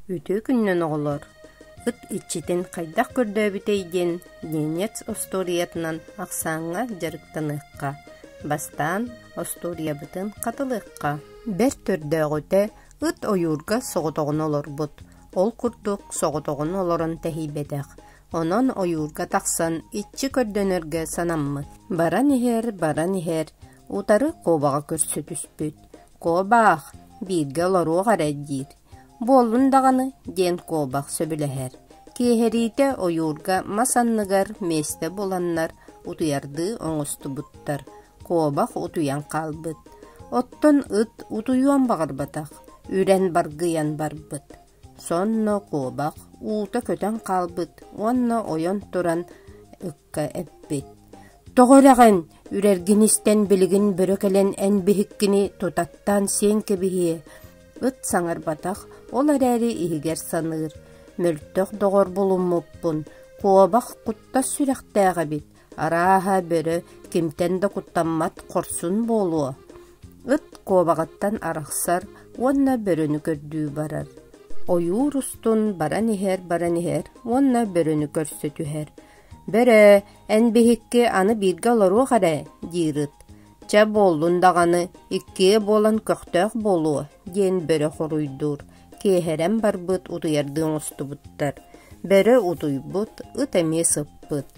Үтүө күнүнэн, оҕолор! Ыт иччитин хайдах көрдөөбүтэй диэн Ненец остуоруйатынан ахсааҥҥа дьарыктаныахха, бастаан остуоруйабытын хатылыахха. Бэрт көрдөөҕүтэ ыт ойуурга соҕотоҕуна олорбут. Ол курдук соҕотоҕуна олорон тэһийбэтэх. Онон ойуурга тахсан иччи көрдөнөргө санаммыт. Баран иһэр, баран иһэр, утары куобаҕа көрсө түспүт. «Куобаах, бииргэ олоруох эрэ» диир. Буоллун даҕаны, диэн куобах сөбүлэһэр, киэһэриитэ ойуурга мас анныгар миэстэ буланнар утуйардыы оҥостубуттар, куобах утуйан хаалбыт. Оттон ыт утуйуон баҕарбатах, үрэн баргыйан барбыт. Сонно куобах уута көтөн хаалбыт уонна ойон туран эппит «Тоҕо үрэҕин, үрэргин истэн билигин бөрө кэлэн эн биһиккини тутаттаан сиэҥ кэбиһиэ» ыт саҥарбатах, ол эрээри иһигэр саныыр «Мөлтөх доҕор булуммуппун, куобах куттас сүрэхтээх эбит, арааһа, бөрө кимтэн да куттаммат хорсун буолуо» Ыт куобаҕыттан арахсар уонна бөрөнү көрдүү барар. Ойуур устун баран иһэр-баран иһэр уонна бөрөнү көрсө түһэр. Бөрө, эн биһикки аны бииргэ олоруох эрэ, диирит. Чэ, буоллун даҕаны, иккиэ буолан көхтөөх буолуо, диэн бөрө хоруйдуур. Киэһэрэн барбыт утуйардыы оҥостубуттар. Бөрө утуйбут, ыт эмиэ сыппыт.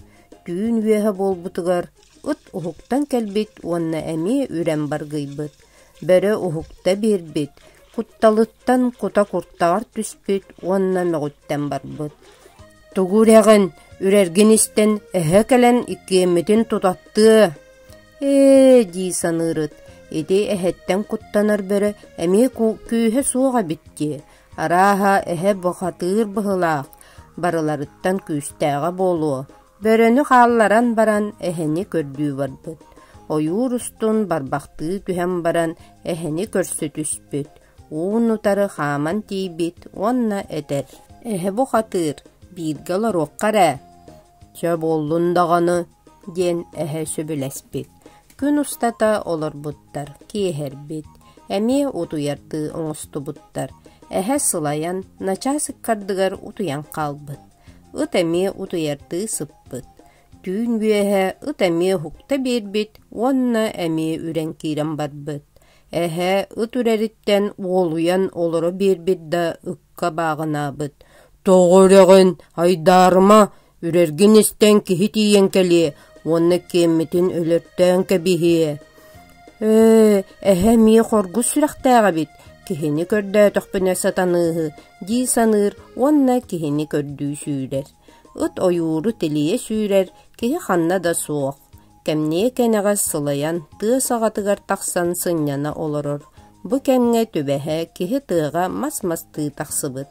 Түүн үөһэ буолбутугар ыт уһуктан кэлбит уонна эмиэ үрэн баргыйбыт. Бөрө уһукта биэрбит, кутталыттан кута куртаҕар түспүт уонна мөҕүттэн барбыт. Тугу үрэҕин, үрэргин истэн, эһэ кэлэн иккиэммитин тутаттыа. Ээ дии саныырыт, ити эһэттэн куттанар бөрө эмиэ күүһэ суох эбит дии. Арааһа, эһэ бухатыыр быһылаах, барыларыттан күүстээҕэ буолуо. Бөрөнү хаалларан баран эһэни көрдүү барбыт. Ойуур устун барбахтыы түһэн баран эһэни көрсө түспүт. Уун-утары хааман тиийбит уонна этэр: «Эһэ бухатыыр, бииргэ олоруохха эрэ. Чэ, буоллун даҕаны» диэн эһэ сөбүлэспит. Күн устата олорбуттар, киэһэрбит, эмиэ утуйардыы оҥостубуттар. Эһэ сылайан, начаас ыккардыгар утуйан хаалбыт. Ыт эмиэ утуйардыы сыппыт. Түүн үөһэ ыт эмиэ уһукта биэрбит уонна эмиэ үрэн киирэн барбыт. Эһээ ыт үрэриттэн уолуйан олоро биэрбит да ыкка бааҕынаабыт: «Тоҕо үрэҕин, айдаарыма, үрэргин истэн киһи тиийэн кэлиэ уонна киэммитин өлөртөөн кэбиһиэ». «Ээ, эһэ эмиэ хоргус сүрэхтээх эбит, киһини көрдөөтөхпүнэ сатаныыһы» дии саныыр уонна киһини көрдүү сүүрэр. Ыт ойууру тилийэ сүүрэр, киһи ханна да суох. кэмниэ кэнэҕэс сылайан тыа саҕатыгар тахсан сынньана олорор. Бу кэмҥэ түбэһэ киһи тыаҕа мас мастыы тахсыбыт.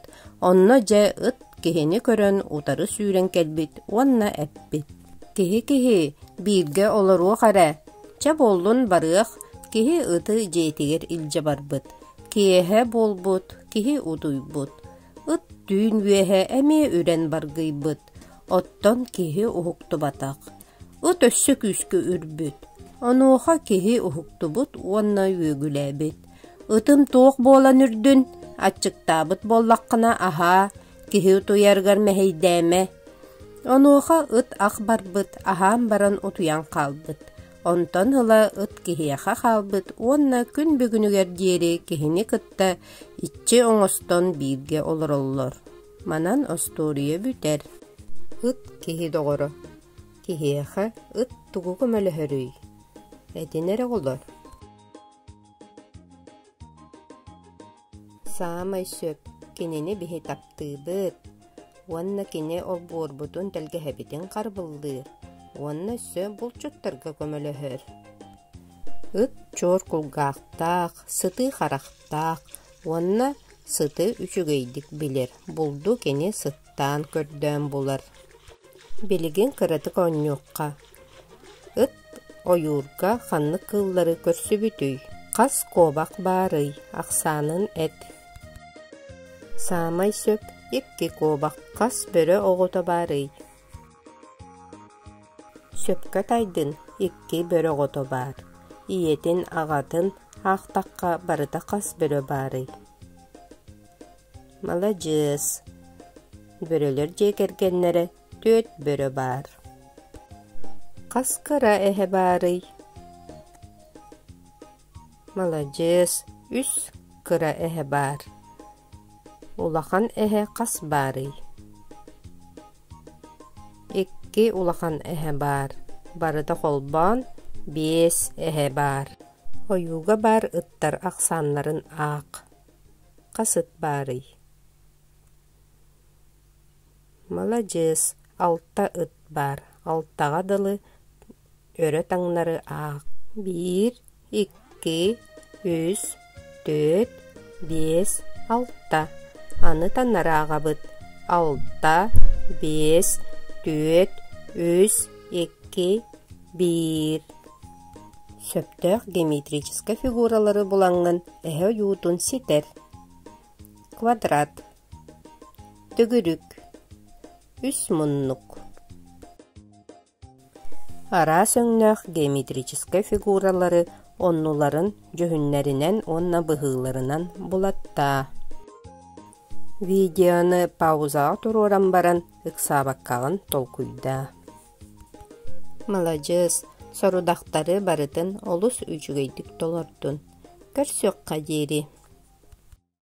Онно дьэ ыт киһини көрөн утары сүүрэн кэлбит уонна эппит: «Киһи киһи, бииргэ олоруох эрэ. Чэ буоллун барыах» киһи ыты дьиэтигэр илдьэ барбыт. Киэһэ буолбут, киһи утуйбут. Ыт түүн үөһэ эмиэ үрэн баргыйбыт. Оттон киһи уһуктубатах. Ыт өссө күүскэ үрбүт. Онуоха киһи уһуктубут уонна үөгүлээбит. Ытын туох буолан үрдүн? Аччыктаабыт буоллаххына аһаа, киһи утуйарыгар мэһэйдээмэ. Онуоха ыт ах барбыт, аһаан баран утуйан хаалбыт. Онтон ыла ыт киһиэхэ хаалбыт уонна күн бүгүнүгэр диэри киһини кытта иччи оҥостон бииргэ олороллор. Манан остуоруйа бүтэр, ыт киһи доҕоро, киһиэхэ ыт тугу көмөлөһөрүй? Этин эрэ оҕолор. Саамай сөп кинини биһи таптыыбыт уонна кини олбуорбутун тэлгэһэбитин харбыллыыр уонна өссө булчуттарга көмөлөһөр. Ыт чуор кулгаахтаах, сытыы харахтаах уонна Сыты үчүгэйдик билэр, булду кини сыттаан көрдөөн булар. Билигин кыратык оонньуохха. Ыт ойуурга ханнык кыыллары көрсүбүтүй? Хас куобах баарый? Ахсаанын эт. Саамай сөп икки куобах хас бөрө оҕото баарый? Сөпкө тайдын, икки бөрөҕото баар, ийэтин, аҕатын аахтахха барыта хас бөрө баарый? Маладьыас! Бөрөлөр дьиэ кэргэннэрэ түөрт бөрө баар. Хас кыра эһэ баарый? Маладьыас, үс кыра эһэ баар. Улахан эһэ хас баарый? Икки улахан эһэ баар. Барыта холбоон, биэс эһэ баар. Ойууга баар ыттар ахсааннарын аах. Хас ыт баарый? Маладьыас, алта ыт баар. Алтаҕа дылы өрө таҥнары аах биир икки үс төрт биэс алта аны таннарааҕабыт алта биэс түөрт үс икки биир сөптөөх геометрическай фигуралары булаҥҥын эһэ ойуутун ситэр квадрат төгүрүк үс муннук Араас өҥнөөх геометрическай фигуралары оннуларын дьүһүннэринэн уонна быһыыларынан булаттаа. Видеоны паузаҕа туруоран баран ыксаабаккаҕын толкуйдаа. Маладьыас, сорудахтары барытын олус үчүгэйдик толордун. Көрсүөххэ диэри.